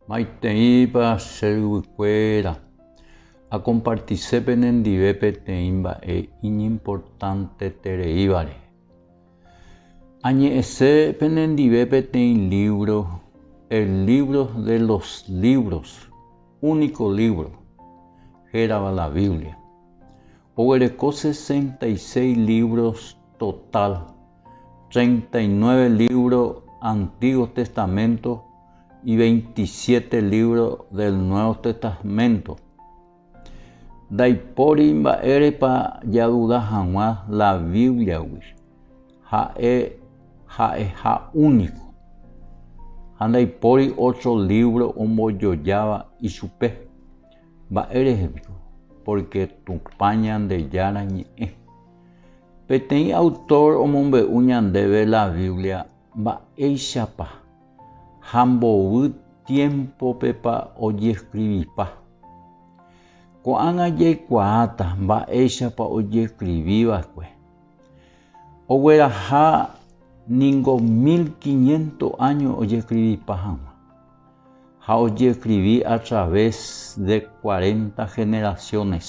Maiteipa che yvykuéra akompartise penendive peteĩ mba'e iñimportantetereíva rehe. Añe'ẽse penendive peteĩ lívro El lívro de los lívros, Úniko lívro, hérava la Biblia. Oguereko sesenta y seis lívros totál. treinta y nueve lívro Antíguo Testaménto y veintisiete lívro del Nuevo Testaménto. Ndaipóri mba'érepa jaduda hag̃ua la Bíbliagui, ha'e ha'eha úniko, ha ndaipóri ótro lívro ombojojáva ichupe. Mba'érehe piko? Pórke Tupã Ñandejára ñe'ẽ. Peteĩ autor omombe'u ñandéve la Biblia mba'éichapa ha mbovy tiémpopepa ojeskrivipa. Ko'ág̃a jaikuaáta mba'éichapa ojeskrivi va'ekue. Ogueraha ningo mil quiniénto áño ojeskrivipa hag̃ua, ha ojeskrivi a través de cuarenta generaciones.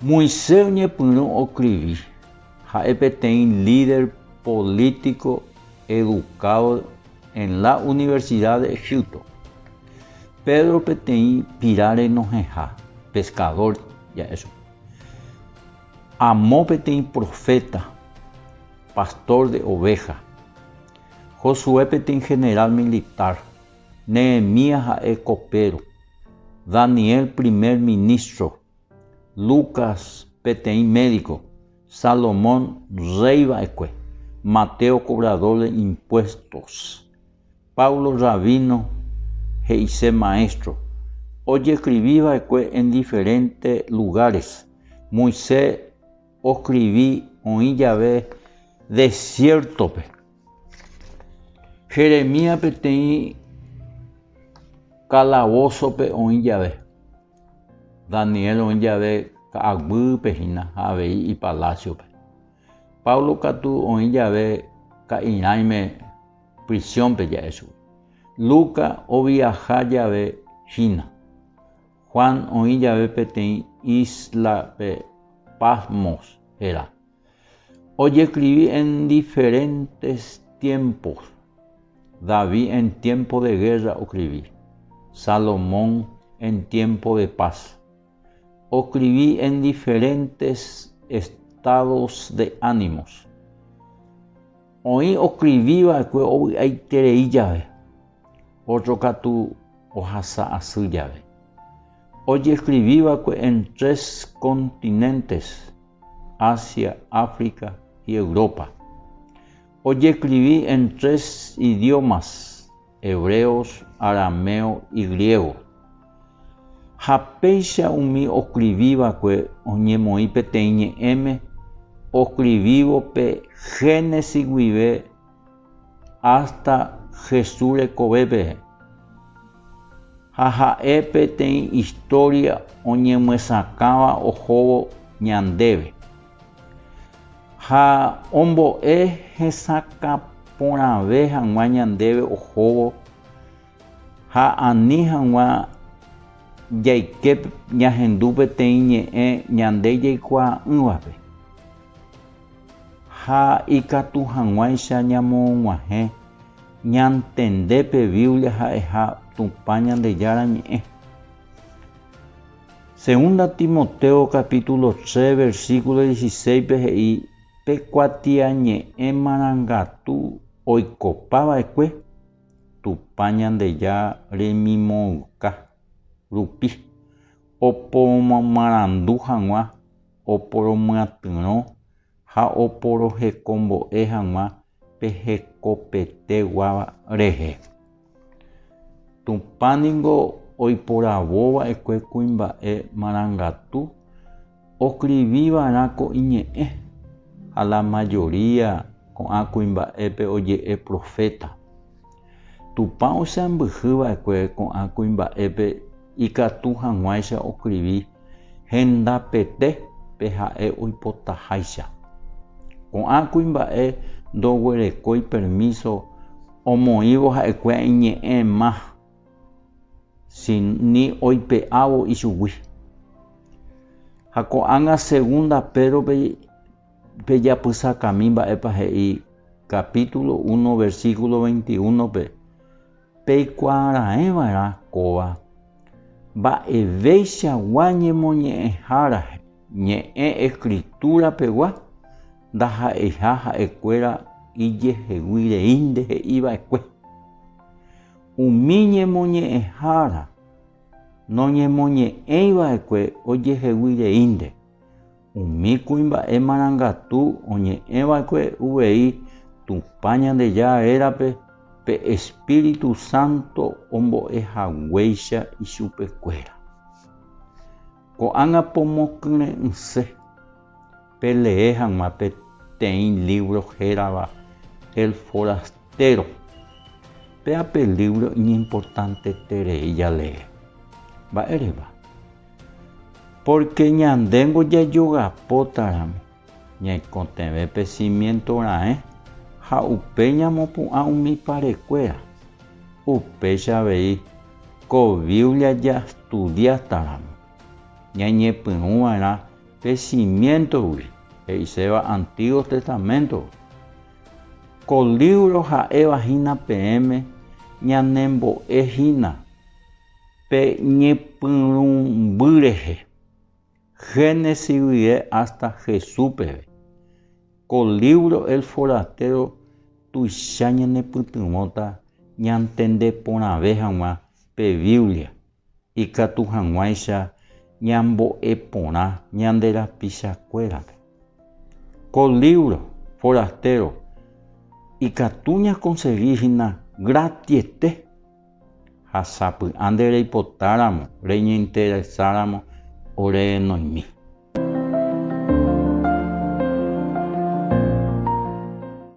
Moisés oñepyrũ okrivi, ha'e peteĩ líder polítiko edukádo en la Universidad de Egipto. Pedro peteĩ pira renohẽha, pescador ja'e chupe. Amo peteĩ proféta, pastor de oveja. Josué peteĩ general militar. Nehemías ha'e kopéro, Daniel primer minístro, Lucas peteĩ médiko, Salomón rréi va'ekue, Mateo kobradór de impuéstos, Pablo rabíno he'ise maéstro, ojeskrivi va'ekue en diferénte lugáres, Moisés oskrivi oĩ jave desiértope. Jeremías peteĩ kalavósope oĩ jave, Daniel oĩ jave ka'aguýpe hína ha avei ipalásiope. Pablo katu oĩ jave ka'irãime prisiónpe ja'e chugui. Luca oviaha jave hína. Juan oĩ jave peteĩ íslape Patmos hérã. Ojeskrivi en diferentes tiempos. David en tiempo de guerra okrivi. Salomón en tiempo de paz. Okrivi en diferentes estados de ánimos. Oĩ okriviva'ekue ovy'aiterei jave. Ótro katu ohasa asy jave. Ojeskrivi va'ekue en tres kontinéntes, Ásia, África y Europa. Ojeskrivi en tres idiómas, hebreos, arameo y griego. Ha péicha umi oskrivi va'ekue oñemoĩ peteĩ ñe'ẽme oskrivívo pe Génesis guive Ásta Jesús rekovépe. Ha ha'e peteĩ istória oñemyesakãva ohóvo ñandéve. Ha ombo'e hesakã porãve hag̃ua ñandéve ohóvo ha ani hag̃ua jaike ñahendu peteĩ ñe'ẽ ñande jaikuaa'ỹvape. Ha ikatu hag̃uáicha ñamoguahẽ ñantende pe Biblia ha'eha Tupã Ñandejára Ñe'ẽ. Segunda Timoteo capítulo tres versículo dieciséis-pe he'i pe kuatiañe'ẽ marangatu oikopa va'ekue Tupã Ñandejára remimoõyka rupi opomarandu hag̃ua oporomyatyrõ ha oporohekombo'e hag̃ua pe hekopetegua rehe. Tupã ningo oiporavova'ekue kuimba'e marangatu oskriviva'erã ko Iñe'ẽ, ha la majoría ko'ã kuimba'épe oje'e proféta. Tupã oseambyhy va'ekue ko'ã kuimba'épe ikatu hag̃uáicha oskrivi hendapete pe ha'e oipotaháicha. Ko'ã kuimba'e ndoguerekói permíso omoĩvo ha'ekuéa iñe'ẽ ma, si ni oipe'ávo ichugui. Ha ko'ág̃a segunda Pédrope Pejapysakami mba'épa he'i capítulo uno, versículo veintiúnope, peikuaaraeva'erã kóva mba'eveichagua ñemoñe'ẽhára ñe'ẽ Escritura-pegua ndaha'eiha ha'ekuéra ijehegui reínte he'iva'ekue. Umi ñemoñe'ẽhára noñemoñe'ẽiva'ekue ojehegui reínte. Umi kuimba'e marangatu oñe'ẽva'ekue uvei Tupã Ñandejára rérape pe espíritu sánto ombo'e haguéicha ichupekuéra. Ko'ág̃a pomokyre'ỹse pelee hag̃ua peteĩ lívro hérava El foraster-o. Péa pe lívro iñimportanteterei jalee. Mba'érepa? Pórke ñandéngo jajogapótaramo ñaikotevẽ pe simiénto raẽ ha upe ñamopu'ã umi parekuéra. Upéicha avei, ko Biblia jastudiátaramo, ñañepyrũ va'erã pe simiéntogui, he'iséva Antígo Testaméntope. Ko lívro ha'éva hína peẽme ñanembo'e hína. Pe ñepyrũmby rehe, Génesis guie hasta Jesús peve, ko lívro El forastero tuicha ñanepytyvõta ñantende porãve hag̃ua pe Biblia ikatu hag̃uáicha ñambo'e porã ñande rapichakuérape. Ko lívro Forastero ikatu ñakonsegi hína gratiete. Ha sapy'a nde reipotáramo, reñeinteresáramo ore noĩmi.